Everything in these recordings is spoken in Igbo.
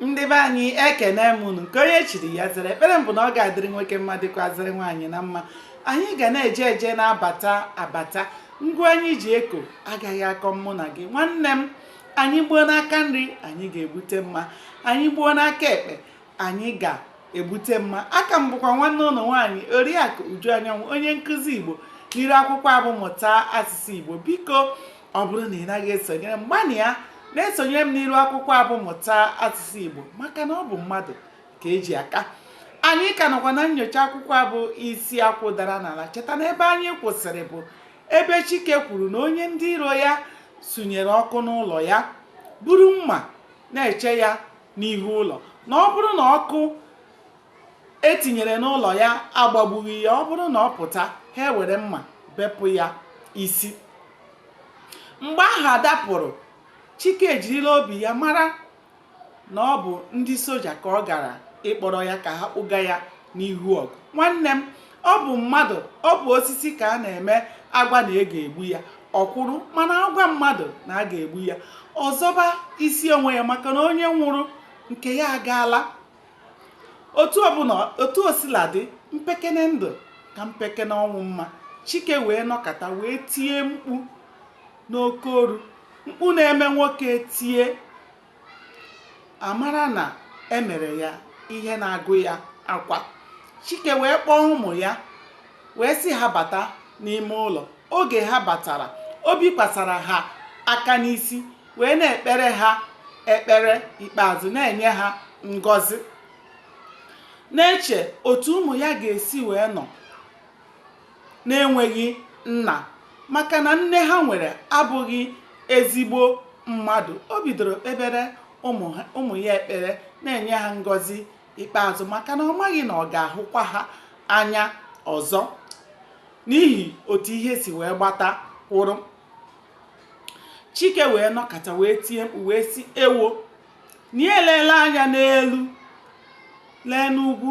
ndị be anyị ekene m unu nke onye chiri ya zere ekpere m bụ na ọ ga-adịrị nwoke mma dịkwazịrị nwaanyị na mma anyị ga na-eje eje na-abata abata ngwa anyị ji eko agaghị akọ mụ na gị nwanne m anyị gbuo n'aka nri anyị ga-egbute mma anyị gbuo n'aka ekpe anyị ga-egbute mma aka m bụkwa nwanne unu nwaanyị oriakụ uju anyanwụ onye nkụzi igbo n'iru akwụkwọ a bụ mụta asụsụ igbo biko ọ bụrụ na ị naghị esonyere m gbanịa na-esonyere m n'iru akwụkwọ a bụ mụta asụsụ igbo maka na ọ bụ mmadụ ka eji aka anyị ka nọkwa na nnyocha akwụkwọ a bụ isi akwụ dara n'ala cheta na ebe anyị kwụsịrị bụ ebe chike kwuru na onye ndị iro ya sụnyere ọkụ n'ụlọ ya buru mma na-eche ya n'ihu ụlọ na ọ bụrụ na ọkụ etinyere n'ụlọ ya agbagbughị ya ọ bụrụ na ọ pụta ha ewere mma bepụ ya isi mgbe ahụ ada pụrụ chike ejirila obi ya mara na ọ bụ ndị soja ka ọ gara ịkpọrọ ya ka ha kpụga ya n'ihu ọgụ nwanne m ọ bụ mmadụ ọ bụ osisi ka a na-eme agwa na e ga-egbu ya ọ kwụrụ mana agwa mmadụ na a ga-egbu ya ọ zọba isi onwe ya maka na onye nwụrụ nke ya agaala otu ọbụla otu o sila dị mpekene ndụ ka mpekene ọnwụ mma chike wee nọkata wee tie mkpu n'oke olu mkpu na-eme nwoke tie amara na emere ya ihe na-agụ ya akwa chike wee kpọọ ụmụ ya wee sị ha bata n'ime ụlọ oge ha batara o bikwasara ha aka n'isi wee na-ekpere ha ekpere ikpeazụ na-enye ha ngọzi na-eche otu ụmụ ya ga-esi wee nọ na-enweghị nna maka na nne ha nwere abụghị ezigbo mmadụ o bidoro kpebere ụmụ ya ekpere na-enye ha ngọzi ikpeazụ maka na ọ maghị na ọ ga-ahụkwa ha anya ọzọ n'ihi otu ihe si wee gbata kwụrụ chike wee nọkata wee tie mkpu wee sị ewo na ya eleela anya n'elu lee n'ugwu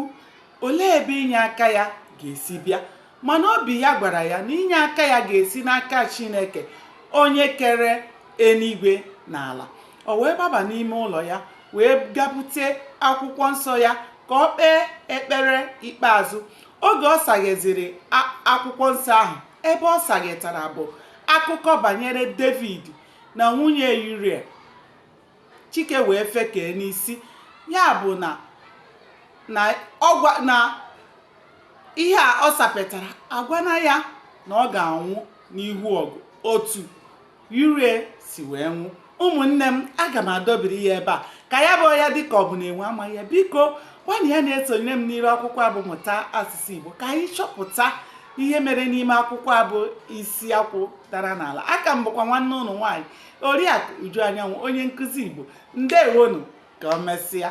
olee ebe inye aka ya ga-esi bịa mana obi ya gwara ya na inye aka ya ga-esi n'aka chineke onye kere eluigwe na ala o wee gbaba n'ime ụlọ ya wee ga bute akwụkwọ nsọ ya ka o kpee ekpere ikpeazụ oge ọ sagheziri akwụkwọ nsọ ahụ ebe ọ saghetara bụ akụkọ banyere david na nwunye uriah chike wee fekee n'isi ya bụ na ihe a ọ sapetara agwana ya na ọ ga-anwụ n'ihu ọgụ otu uria si wee nwụ ụmụnne m aga m adọbiri ya ebe a ka ya bụ ya dịka ọ bụ na enwe amaghị ya biko gwana ya na-esonyere m n'iru akwụkwọ a bụ mụta asụsụ igbo ka anyị chọpụta ihe mere n'ime akwụkwọ a bụ isi akwụ dara n'ala aka m bụkwa nwanne unu nwaanyị Oriakụ Uju Anyanwụ onye nkụzi Igbo ndewonu ka o mesịa